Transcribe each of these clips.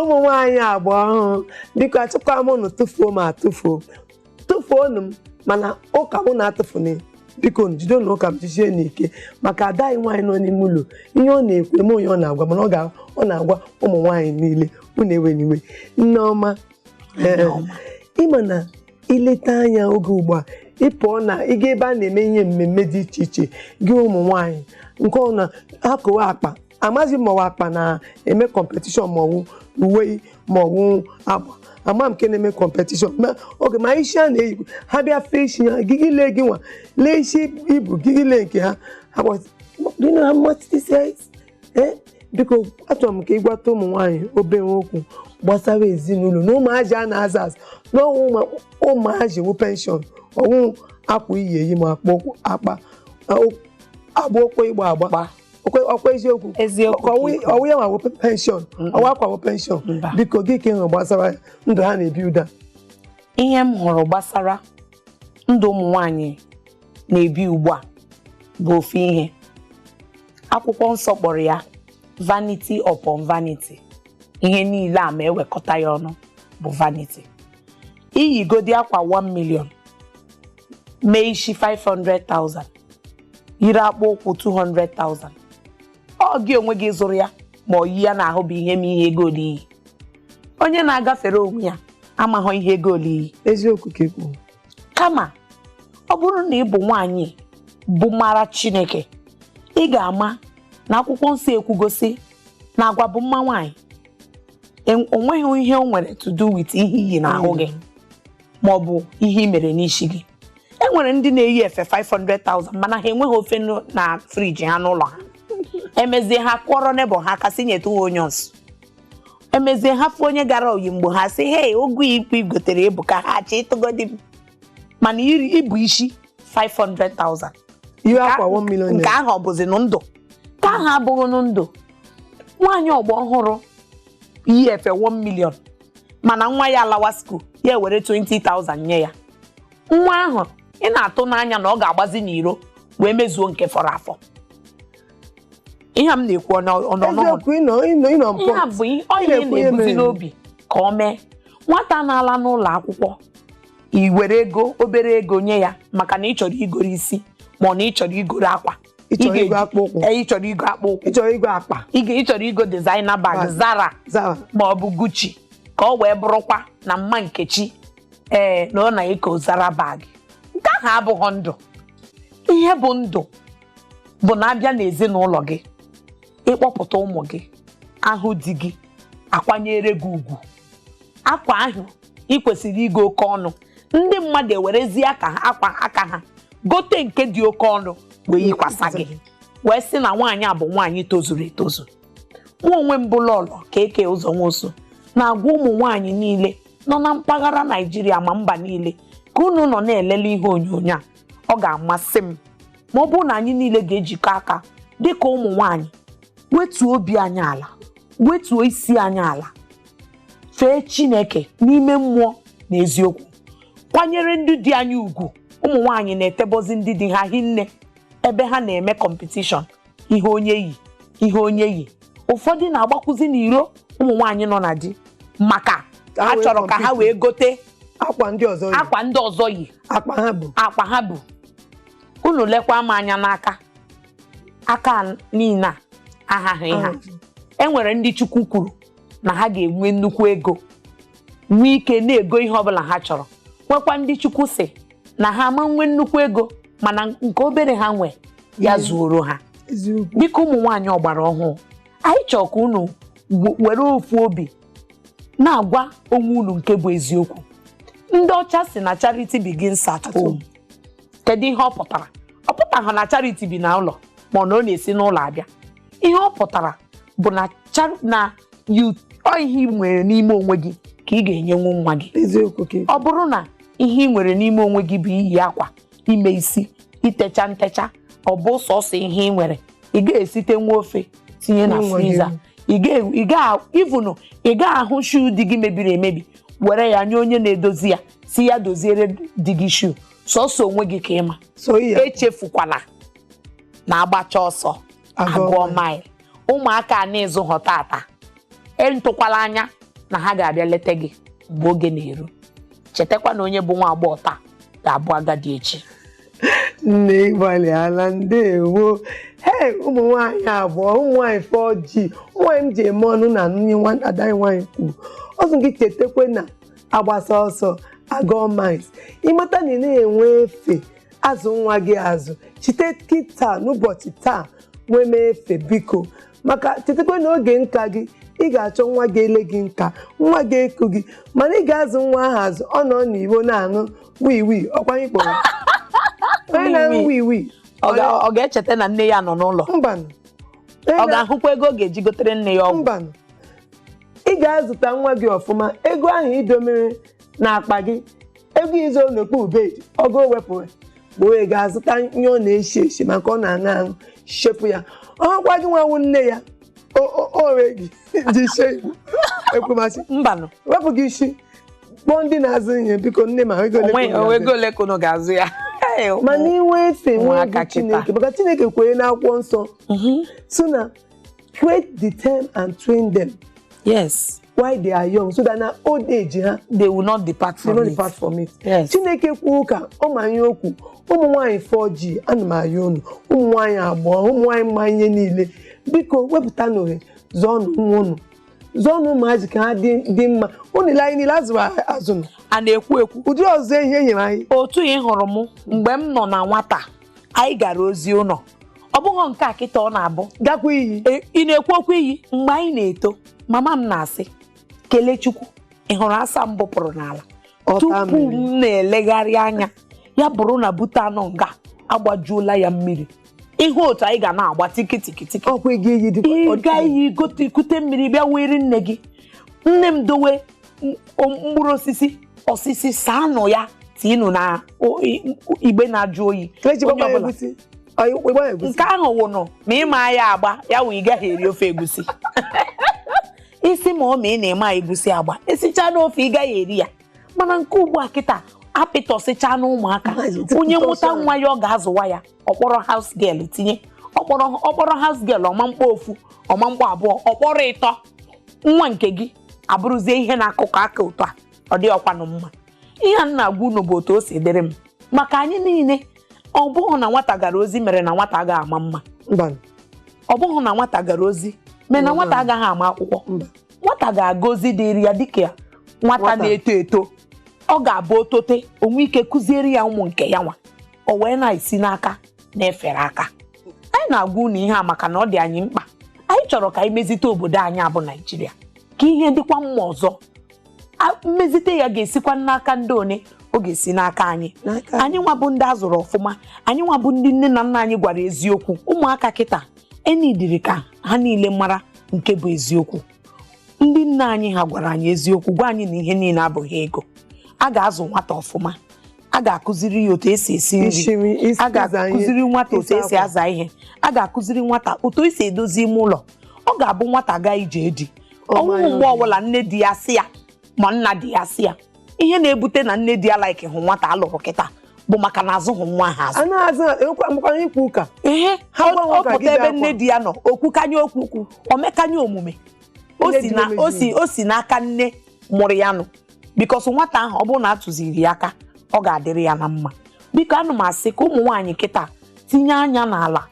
ụmụ nwaanyị agba ọhụrụ biko asịkwa m unu tụfuo m atụfuo tụfuonu m mana ụka m unu atụfuni biko nu jidenu ụka m jisie n'ike maka ada anyị nwaanyị nọ n'ime ụlọ ihe ọ na-ekwu eme onye ọ na-agwa mana ọ ga- ọ na-agwa ụmụ nwaanyị niile unu ewena iwe Nneọma ee ịma na i leta anya oge ugbu a ị pụọ na ịga ebe a na-eme ihe mmemme dị iche iche gị ụmụ nwaanyị nke ọ na akụwa akpa amaghị m ma ọ wụ akpa na-eme competition ma ọ wụ uwe ma ọ wụ akpa amaghị m nke na-eme competition ma oge ma isi a na-eyi ha bịa fee isi ha gị ile gị nwa lee isi i bu gị elee nke ha ha gbasị- do you know how much this is? ee biko achọrọ m ka ị gwata ụmụ nwaanyị obere okwu gbasara ezinụlọ na ụmụazị a na-azụ azụ na ọ wụ ụmụazị wụ pension ọ wụ akwa i yi eyi ma akpa ụkwụ- akpa agba okwe ịgba agba Gba. Okwe- ọkwa eziokwu Eziokwu ka ọ wụ- ikwu. ọ wụ ya nwa wụ pension ọ wụ akwa wụ pension Mba. biko gịnị ka ị hụrụ gbasara ndụ ha na-ebi ụda ihe m hụrụ gbasara ndụ ụmụ nwanyị na-ebi ugbu a bụ ofu ihe akwụkwọ nsọ kpọrọ ya vanity upon vanity ihe niile a ma e wekọta ya ọnụ bụ vanity i yigodi akwa 1 million mee isi 500,000 yiri akpụ ụkwụ 200,000 ọ gị onwe gị zụrụ ya ma ọ yi ya n'ahụ bụ ihe ma ihe ego ole i yi onye na-agafere onwe ya amaghọ ihe ego ole i yi eziokwu ka i kwu kama ọ bụrụ na ị bụ nwaanyị bụ mara Chineke ị ga-ama na akwụkwọ nsọ ekwugo sị na agwa bụ mma nwaanyị En- o nweghị ihe o nwere to do with ihe i yi n'ahụ gị ma ọ bụ ihe i mere n'isi gị e nwere ndị na-eyi efe 500,000 mana ha enweghị ofe na friji ha n'ụlọ ha emezie ha kụọrọ neighbour ha aka sị nyetụ ha onions emezie ha fụ onye gara Oyingbo ha sị hei ugu ikpe i gotere ebuka ha chịtụgodi m mana i bu isi 500,000 i yi akwa 1 million nke naira ahụ ọ bụzi nụ ndụ ka ahụ abụghị nụ ndụ nwaanyị ọgbọ ọhụrụ yi efe 1 million mana nwa ya alawa school ya ewere 20,000 nye ya nwa ahụ ị na-atụ n'anya na ọ ga-agbazi n'iro wee mezuo nke fọrọ afọ ihe a m na-ekwu ọ nọ- ọ nọ n'ọnọdụ eziokwu ịnọ ịnọ ịnọ mpọ ihe a bụ ihe- ọ ihe na-ekwu ihe na-ebuzi mere. n'obi ka o mee nwata na-ala n'ụlọ akwụkwọ i were ego obere ego nye ya maka na ị chọrọ igoro isi ma ọ na ị chọrọ igoro akwa ị chọrọ ga-eji- igo akpụ ụkwụ ee, ị chọrọ igo akpụ ụkwụ ị chọrọ igo akpa ị ga- ị chọrọ igo designer bag Bag. zara zara ma ọ bụ gucci ka ọ wee bụrụkwa na mma nkechi ee na ọ na-eko zara bag nke ahụ abụghị ndụ ihe bụ ndụ bụ na a bịa n'ezinụlọ gị ịkpọpụta ụmụ gị a hụ di gị akwanyere gị ugwu akwa ahụ ị kwesịrị igo oke ọnụ ndị mmadụ ewerezi aka ha gote nke dị oke ọnụ wee yikwasa gị wee sị na nwaanyị a bụ nwaanyị tozuru etozu mụnwa onwe m bụ lọlọ ka eke ụzọ nwosu na-agwa ụmụ nwaanyị niile nọ na mpaghara naijiria ma mba niile ka unu nọ na-elele ihe onyonyo a ọ ga-amasị m ma ọ bụrụ na anyị niile ga-ejikọ aka dị ka ụmụ nwanyị wetuo obi anyị ala wetuo isi anyị ala fee Chineke n'ime mmụọ na eziokwu kwanyere ndị di anyị ugwu ụmụ nwanyị na-etebọzi ndị di ha hinne ebe ha na-eme kọmpetishọn ihe onye yi ihe onye yi ụfọdụ na-agbakwuzi n'iro ụmụ nwaanyị nọ na di maka Ka ha ha wee chọrọ ka ha compete. wee gote akwa ndị ọzọ yi akwa ndị ọzọ yi akpa ha bu akpa ha bu unu lekwa m anya n'aka aka niile a ahaghị ha e nwere ndị chukwu kwuru na ha ga-enwe nnukwu ego nwee ike na-ego ihe ọbụla ha chọrọ nwekwa ndị chukwu sị na ha ama nwe nnukwu ego mana nke obere ha nwe ya zuoro ha eziokwu biko ụmụ nwaanyị ọgbara ọhụụ anyị chọrọ ka unu w- were ofu obi na-agwa onwe unu nke bụ eziokwu ndị ọcha sị na charity begins at home kedu ihe ọ pụtara ọ pụtaghị na charity bi na ụlọ ma na ọ na-esi n'ụlọ abịa ihe ọ pụtara bụ na char- na you- ọ ihe ị nwere n'ime onwe gị ka ị ga-enyenwu nwa gị eziokwu ka ọ bụrụ na ihe ị nwere n'ime onwe gị bụ iyi akwa ime isi itecha ntecha ọ bụ sọsọ ihe ị nwere ị ga-esite nwa ofe tinye na N'onwe gị. friza ị ga- ị ga- ivunu ị ga-ahụ shuu di gị mebiri emebi were ya nye onye na-edozi ya sị ya doziere di gị shuu sọsọ onwe gị ka ị ma so iyi akwa. echefukwala na agbacha ọsọ Agụọ agụọ mile. mile ụmụaka a na ị zụghọ tata entụkwala anya na ha ga-abịa leta gị mgbe oge na-eru chetakwa na onye bụ nwa agbọghọ taa ga-abụ agadi echi nne ị gbalịala ndewo hei ụmụ nwaanyị agba ọhụụ ụmụ nwaanyị 4G ụmụ nwaanyị m ji eme ọnụ na nne nwata ada anyị nwaanyị kwuru ọ sị gị chetakwa na agbasịa ọsọ agụọ miles ị mata na ị na-enwe efe azụ nwa gị azụ site kịta n'ụbọchị taa nwebe efe biko maka chetakwa na oge nka gị ị ga-achọ nwa ga-ele gị nka nwa ga-eku gị mana ị ga-azụ nwa ahụ azụ ọ nọ n'igbo na-aṅụ wii wii ọkwa anyị kpọrọ onye na-aṅụ wii wii Ọ ga- ọ ga-echeta na nne ya nọ n'ụlọ mbanụ Onye ọ na- ga-ahụkwa ego ọ ga-eji gotere nne ya ọgwụ mbanụ ị ga-azụta nwa gị ọfụma ego ahụ i domere n'akpa gị ego i zo n'okpuru bed ọ gaa wepụrụ bịa wee ga azụta ihe ọ na-eshi eshi ma nke ọ na-aṅụ aṅụ shepụ ya ọkwa gị nwa wụ nne ya o ree gị ji she igbo ekwemasị mbanụ wepụ gị isi kpọọ ndị na-azụ ihe biko nne m a ego ole ka unu onwe ga-azụ. ego ole ka unu ga-azụ ya mana i nwee efe nwee Ụmụaka egwu chineke kịta. maka chineke kwuru n'akwụkwọ nsọ Mhm. sị na create the time and train them yes while they are young so that na old age ha they will not depart they from no it. depart from it Yes. chineke kwuo ka ọ ma ihe o kwu ụmụ nwaanyị 4G ana m ayọ unu ụmụ nwaanyị agbọghọ ụmụ nwaanyị ma ihe niile biko wepụtanụ ohe zụọnụ nwa unu zụọnụ ụmụazị ka ha dị dị mma unu lee anyị niile a zụrụ azụ nụ. a na-ekwu ekwu ụdị ọzụzụ e nyere anyị otu ị hụrụ m mgbe m nọ na nwata anyị gara ozi ụlọ ọ bụghị nke a kịta ọ na-abụ gakwa iyi E- ị na-ekwu okwu iyi mgbe anyị na-eto mama m na-asị Kelechukwu ị hụrụ asọ m bụpụrụ n'ala Ọ taa tupu mmiri. m na-elegharị anya ya bụrụ na bute a nọ nga agbajuola ya mmiri ihe otu anyị ga na-agba tikitikitiki ọkwa ịga iyi dịkwa ịga iyi gote kute mmiri bịa were nne gị nne m dowe mkpụrụ osisi sị saanụ ya tiinụ na igbe na-ajụ oyi nke ahụ wụnụ ma ị maa ya agba ya wụ ị gaghị eri ofe egusi isi ma ọ wụ na ị maa egusi agba e sichaanụ ofe ị gaghị eri ya mana nke ugbu a kịta apịtọsịchaa na ụmụaka onye mụta nwa ya ọ ga-azụwa ya ọ kpọrọ house girl tinye ọ kpọrọ house girl ọ ma kpọ ofu ọ ma kpọ abụọ ọ kpọrọ ịtọ nwa nke gị abụrụzie ihe na-akụkọ aka otu a ọ dịhọkwanụ mma ihe a na-agwa unu bụ otu o si dịrị m maka anyị niile ọ bụghị na nwata gara ozi mere na nwata agaghị ama mma ọ bụghị na nwata gara ozi mere na nwata agaghị ama akwụkwọ nwata ga-aga ozi dịrị ya dịka nwata na-eto eto ọ ga-abụ o tote o nwee ike kụziere ya ụmụ nke ya nwa o wee na-esi n'aka na-efere aka anyị na-agwa unu ihe a maka na ọ dị anyị mkpa anyị chọrọ ka anyị mezite obodo anyị a bụ naijiria ka ihe dịkwa mma ọzọ A- mmezite ya ga-esikwa n'aka ndị one ọ ga-esi n'aka anyị N'aka anyị nwa bụ ndị a zụrụ ọfụma anyị nwa bụ ndị nne na nna anyị gwara eziokwu ụmụaka kịta e needịrị ka ha niile mara nke bụ eziokwu ndị nna anyị ha gwara anyị eziokwu gwa anyị na ihe niile abụghị ego a ga-azụ nwata ọfụma a ga-akụziri ya otu esi esi nri Ishi nri, isi a ịza ihe, ga-akụziri nwata otu ịsa esi akwa. aza ihe a ga-akụziri nwata otu esi edozi ime ụlọ ọ ga-abụ nwata gaa ije di Ọ o nweghị mara mgbe obi. ọbụla nne di ya sị ya ma nna di ya sị ya ihe na-ebute na nne di ya likehụ nwata alụrụ kịta bụ maka na azụghị nwa ha azụ a na-azụ enwekwa mgbakwa ikwu ụka ihe Ha ọ gbanwe ọ ka pụta gide ebe akwa. nne di ya nọ o kwukanye okwu o mekanye omume o Nne si di na- na-emeju o si- o si n'aka nne mụrụ ya nụ because nwata ahụ ọ bụrụ na a tụziri ya aka ọ ga-adịrị ya na mma biko ana m asị ka ụmụ nwaanyị kịta tinye anya n'ala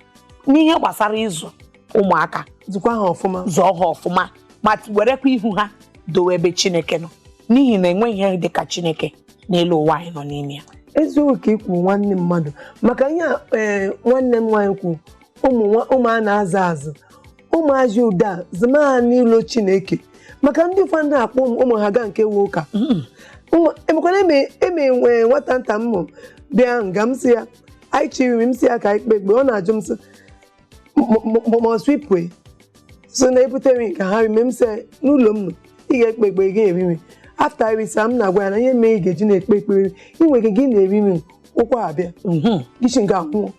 n'ihe gbasara ịzụ ụmụaka zụkwa ha ọfụma zụọ ha ọfụma ma werekwa ihu ha dowe ebe chineke nọ n'ihi na enweghị ihe dị ka chineke n'elu ụwa anyị nọ n'ime ya eziokwu ka i kwu nwanne mmadụ maka ihe a, ee, nwanne m nwaanyị kwu ụmụ nwa- ụmụ a na-azụ azụ ụmụazị ụda zima ha n'ụlọ chineke maka ndị ụfọdụ na-akpọ ụmụ ụmụ ha gaa nke wụ ụka Ụmụ- emekwana eme eme nwee nwata nta m mụ bịa nga m sị ya anyị chiri m sị ya ka anyị kpe ekpe ọ na-ajụ m sị must we pray so na ebutere nke ha rime m sị n'ụlọ m nọ ị ga-ekpe ekpe ị ga-eri nri after irisa m na-agwa ya na ihe mere ị ga-eji na-ekpe ekpere ị nwere ike gị na-eri nri ụkwara bịa Mhm. gị shi nga nwụọ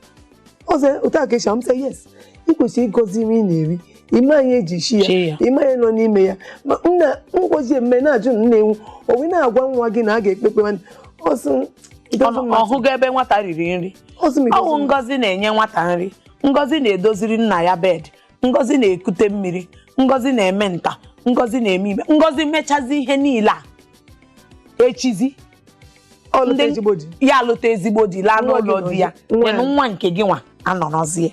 ọ sị otu a ka esi m sị yes ị kwesịrị ịgọzi nri ị na-eri ị ma ihe eji shi Chi ya. ya ị ma ihe nọ n'ime ya mana ngọzi mme na-ajụ na nna-enwu o wee na-agwa nwa gị na a ga-ekpe ekpe nwanne ọsụ it doesn't matter. ọhụgo ebe nwata riri nri Ọsụ m, it ọ wụ doesn't matter. ngọzi na-enye nwata nri ngọzi na-edoziri nna ya bed ngọzi na-ekute mmiri ngọzi na-eme nta ngọzi na-eme imo ngọzi mechazi ihe niile a echizi Ọ lụta ndị- ezigbo di. ya alụta ezigbo di laa Nwa gị n'ụlọ di ya nọzi- nwa then ya. nwa nke gị nwa anọrọzie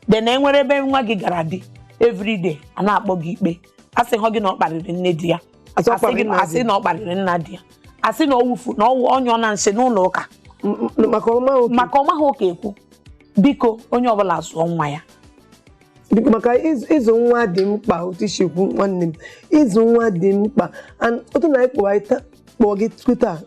then enwere ebe nwa gị gara di everyday a na-akpọ gị ikpe asịhụ gị na ọ kparịrị nne di ya Asị ọ asị kparịrị gị nna asị di. na ọ kparịrị nna di ya asị na ọ wufu na ọ nyụọna nsị n'ụlọ ụka M- m- maka ọma oke maka ọ maghị ụka ekwu biko onye ọbụla zụọ nwa ya Biko, maka ịzụ ịzụ nwa dị mkpa otu i si kwu nwanne m ịzụ nwa dị mkpa And otu na anyị kpọwa anyị ta- kpọọ gị tuta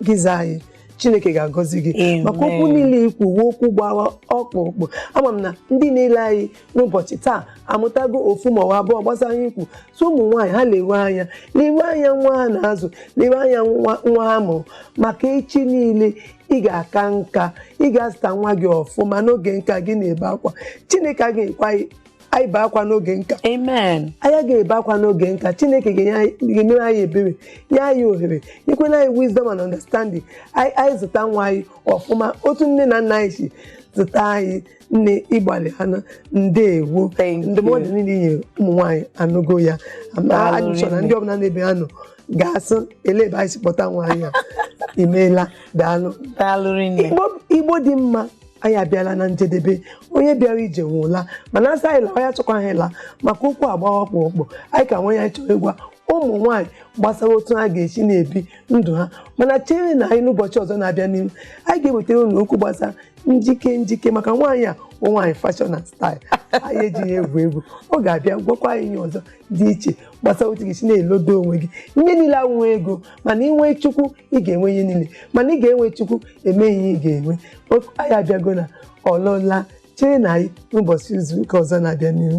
gị zaa anyị chineke ga-agọzi gị Amen. maka okwu niile i kwu ọ wụ okwu gbara ọkpụrụkpụ ama m na ndị na-ele anyị n'ụbọchị taa amụtago ofu ma ọ bụ abụọ gbasara ihe i kwu so ụmụ nwaanyị ha lewe anya lewe anya nwa ha na-azụ lewe anya nwa nwa ha mụrụ maka echi niile ị ga-aka nka ị ga-azụta nwa gị ọfụma n'oge nka gị na-ebe akwa chineke agaghị ekwe anyị anyị bee akwa n'oge nka amen anyị ga-ebe akwa n'oge nka chineke ga-enye anyị- ga-emere anyị ebere nye anyị ohere nyekwana anyị wisdom and understanding anyị anyị zụta nwa anyị ọfụma otu nne na nna anyị si zụta anyị nne ị gbalịana ndewo Thank you. ndụmọdụ niile i nyere ụmụ nwaanyị anụgo ya Ama- Daalụ anyị chọrọ na rinne. ndị ọbụla n'ebe ha nọ ga-asị elee ebe anyị si kpọta nwaanyị a imeela daalụ daalụ rinne Igbo- igbo dị mma anyị abịala na njedebe onye bịara ije nwe ụla mana a sị anyị lawa anyị achọkwaghị ịla maka okwu gbara ọkpụrụkpụ anyị ka nwee ya anyị chọrọ ịgwa ụmụ nwaanyị gbasara otu ha ga-esi na-ebi ndụ ha mana cherenụ anyị n'ụbọchị ọzọ na-abịa n'ihu anyị ga-ewetara unu okwu gbasara njike njike maka nwaanyị a bụ nwaanyị fashion and style anyị ejighị egwu egwu ọ ga-abịa gwakwa anyị ihe ọzọ dị iche gbasara otu ị ga-esi na-elodo onwe gị ihe niile awụ inwe ego mana i nwee chukwu ị ga-enwe ihe niile mana ị ga-enwe chukwu eme ihe ị ga-enwe anyị abịago na ọlọla cheenụ anyị n'ụbọchị izu ụka ọzọ na-abịa n'ihu